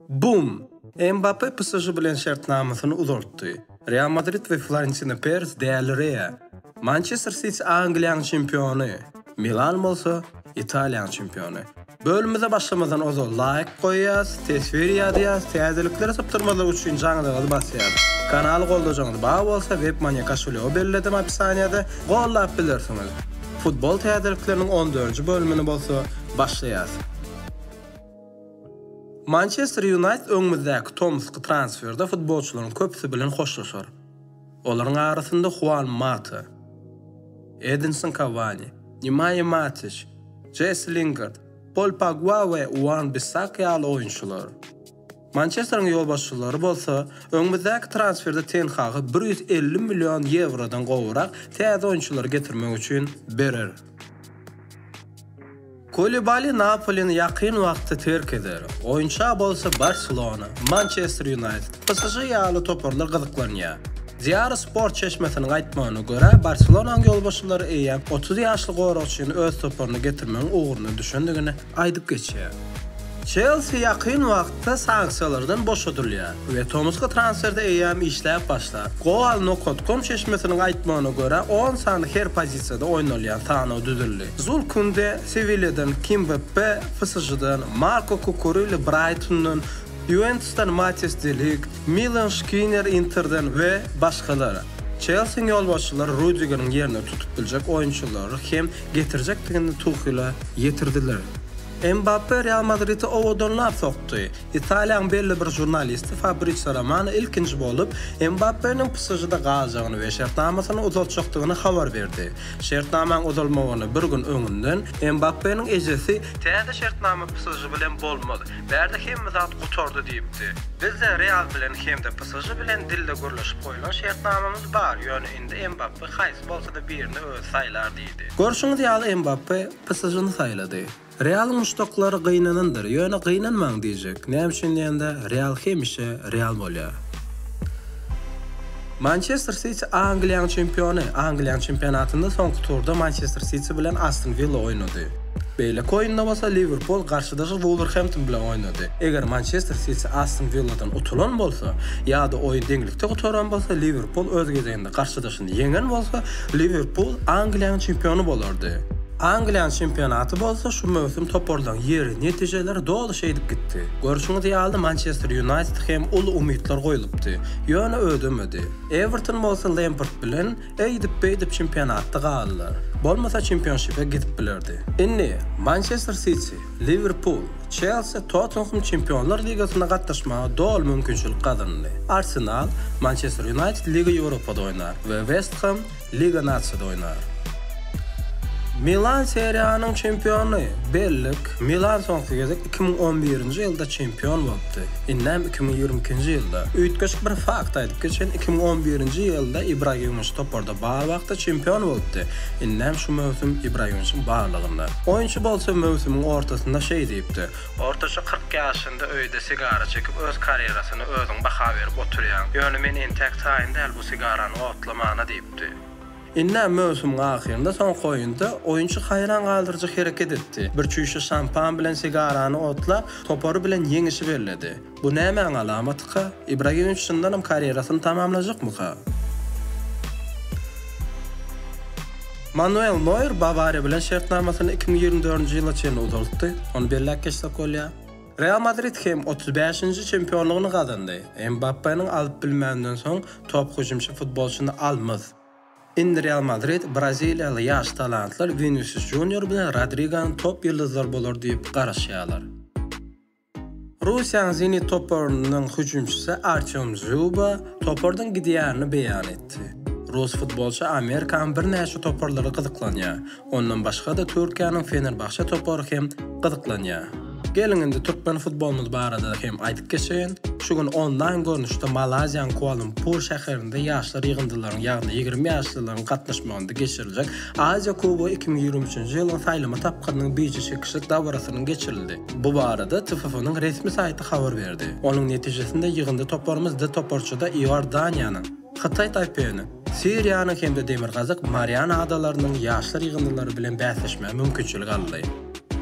Bum! Mbappe PSŽ bilen şertnamasyny uzaltdy. Real Madrid we Florentina Peres dälirýär. Mançester Siti Angliýaň çempiony, Milan bolsa Italiýaň çempiony. Bölümimize başlamazdan ozal laýk goýýas, teswir ýazýas, täzelikleri sypdyrmazlyk üçin jaňzyňyzy basýas. Kanaly goldajaňyz bar bolsa Webmoney koşulýogy belledim opisaniýada gollap bilersiňiz. Futbol täzelikleriniň on dördünji bölümini bolsa başlaýas. Mançester Ýunaýted öňümizdäki tomusky transferde futbolçylaryň köpüsi bilen hoşlaşar. Olaryň arasynda Huan Mata, Edinson Kawani, Nemaýa Matiç, Jesi Lingard, Pol Pogba we Wan-Bissak ýaly oýunçylar. Mançesteriň ýolbaşçylary bolsa, öňümizdäki transferde Ten Hagy bir ýüz elli million ýewrodan gowurak täze oýunçylary getirmek üçin berer. Kulibali Napolini ýakyn wagtda terk eder, oýunça bolsa Barselona, Mançester Ýunaýted, PSŽ ýaly toparlar gyzyklanýar. Diýary Sport çeşmesiniň aýtmagyna görä, Barselonaň ýolbaşçylary eýýäm otuz ýaşly goragçyny öz toparyna getirmegiň ugruna düşendigini, aýdyp geçýär. Çelsi ýakyn wagtda sanksiýalardan boşadylýar we tomusky transferde eýýäm işläp başlar. Goal-nokot-kom çeşmesiniň aýtmagyna görä, on sany her pozisiýada oýnalýan sanaw düzüldi. Zul Kunde Sewilýadan, Kimbeppe PSŽ-den, Marko Kukureli Braýtondan, Ýuwentusdan Matýas de Ligt, Milan Şkiner Interden we başgalar. Çelsiň ýolbaşçylary Rudigeriň ýerini tutup biljek oýunçylary hem getirjekdigini Tuhile ýetirdiler. Mbappe Real Madridi owadanlap sokdy. Italiýanyň belli bir žurnalisti Fabrizio Romano ilkinji bolup, Mbappeniň PSŽ-de galjagyny we şertnamasyny uzaltjakdygyny habar berdi. Şertnamaň uzalmagyna bir gün öňünden Mbappeniň ejesi Täze şertnama PSŽ bilen bolmaz. Bärde hemme zat gutardy diýipdi. Bizde Real bilen hem-de PSŽ bilen dilde gürleşip goýlan şertnamamyz bar, ýöne indi Mbappe haýsy bolsa-da birini özi saýlar diýdi. Görşüňiz ýaly Mbappe PSŽ-ni saýlady. Realyň muşdaklary gynanandyr, ýöne gynanmaň diýjek. Näme üçin diýende, Real hemişe Real bolýar. Mançester Siti Angliýaň çempiony. Angliýaň çempionatynda soňky turda Mançester Siti bilen Aston Willa oýnady. Beýleki oýunda bolsa Liwerpul garşydaşy Wulwerhempton bilen oýnady. Eger Mançester Siti Aston Willadan utulan bolsa ýa-da oýun deňlikde gutaran bolsa, Liwerpul öz gezeginde Garşydaşyny ýeňen bolsa, Liwerpul Angliýanyň çempiony bolardy. Angliýanyň çempionaty bolsa şu möwsüm toparlaryň ýeri, netijeleri doly şeýdip gitdi. Görşüňiz ýaly, Mançester Ýunaýted hem uly umytlar goýlupdy, ýöne ödemedi. Ewerton bolsa Lempard bilen eýdip-beýdip çempionatda galdylar. Bolmasa çempionşipe gidip bilerdi. Indi Mançester Siti. Liwerpul, Çelsi, Tottenhem Çempionlar ligasyna gatnaşmaga doly mümkinçilik gazandy. Arsenal, Mançester Ýunaýted Liga Ýewropada oýnar we West Hem Liga Nasiýada oýnar. Milan Seriýanyň çempiony. Bellik, Milan soňky gezek iki müň on birinji ýylda çempion bolupdy. Indem iki müň ýigrimi ikinji ýylda. Üýtgeşik bir fakt aýdyp geçen, iki müň on birinji ýylda Ibragimowiç toparda bar wagty çempion bolupdy. Indem şu möwsüm Ibragimowiçiň barlygynda. Oýunçy bolsa möwsümiň ortasynda şeý diýipdi, Ortaça kyrk ýaşynda öýde sigara çekip, öz karýerasyna özüň baha berip oturýaň. Ýöne men entäk taýyn däl bu sigarany otlamana diýipdi. Ine, möwsümiň ahyrynda, soňky oýunda oýunçy haýran galdyryjy hereket etdi. Bir çüýşe şampan bilen sigarany otlap, topary bilen ýeňişi belledi. Bu nämäň alamatyka? Ibragimowiç çyndanam karýerasyny tamamlajakmyka? Manuel Noýer Bawariýa bilen şertnamasyny iki müň ýigrimi dördünji ýyla çenli uzaltdy, ony belläp geçsek bolýar. Real Madrid hem otuz bäşinji çempionlygyny gazandy. Mbappeniň alyp bilmäninden soň top hüjümçi futbolçyny almz. Indi Real Madrid braziliýaly ýaş talantlar Winisius Junior bilen Rodriganyň top ýyldyzlary bolar diýip garaşýarlar. Russiýanyň Zenit toparynyň hüjümçisi Artýom Zýuba topardan gidýärini beýan etdi. Rus futbolçy Amerikanyň birnäçe toparlary gyzyklanýar. Ondan başga-da Türkiýäniň Fenerbahçe topary hem gyzyklanýar. Geliň indi türkmen futbolymyz barada hem aýdyp geçeýin. Şu gün onlaýn görnüşde Malaýziýanyň Kuala-Lumpur şäherinde ýaşlar ýygyndylaryň, ýagny ýigrimi ýaşlylaryň gatnaşmagynda geçiriljek Aziýa kubogy iki müň ýigrimi üçünji ýylyň saýlama tapgyrynyň bije çekişlik dabarasynyň geçirildi. Bu barada TFF-nyň resmi saýty habar berdi. Onuň netijesinde ýygyndy toparymyz D toparçada Iordaniýanyň, Hytaý Taýpeýiniň, Siriýanyň hem-de Demirgazyk Mariana Adalarynyň ýaşlar ýygyndylary bilen bäsleşmäge mümkinçilik aldy.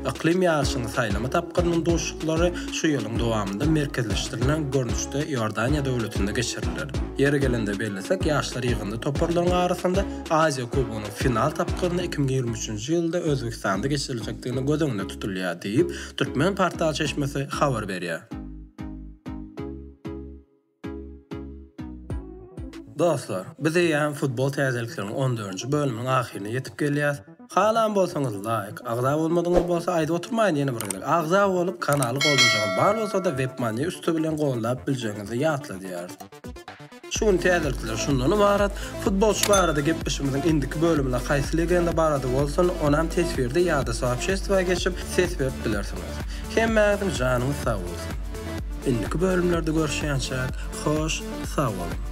Yklym ýaryşynyň saýlama tapgyrynyň duşuşyklary şu ýylyň dowamynda merkezleşdirilen görnüşde Iordaniýa döwletinde geçiriler. Ýeri gelende bellesek, ýaşlar ýygyndy toparlaryň arasynda Aziýa kubogynyň final tapgyryny iki müň ýigrimi üçünji ýylda Özbegistanda geçiriljekdigini göz öňünde tutulýar diýip, Türkmenportal çeşmesi habar berýär. Dostlar, biz eýýäm futbol täzelikleriniň on dördünji bölüminiň ahyryna ýetip gelýäs. Halan bolsaňyz laýk, agza bolmadyňyz bolsa aýdyp oturmaýyn ýene bir gezek. Agza bolup kanaly goldajaňyz bar bolsada webmani üsti bilen goldap biljegiňizi ýatladýarys. Şu gün täzelikler şundan ybarat, futbolçy barada gepleşigimiziň indiki bölüminde haýsy legenda barada bolsun, onam teswirde ýa-da soobşestwa geçip, ses berip bilersiňiz. Hemmäňiziň janyňyz sag bolsun! Indiki bölümlerde görüşýänçäk, hoş sag boluň!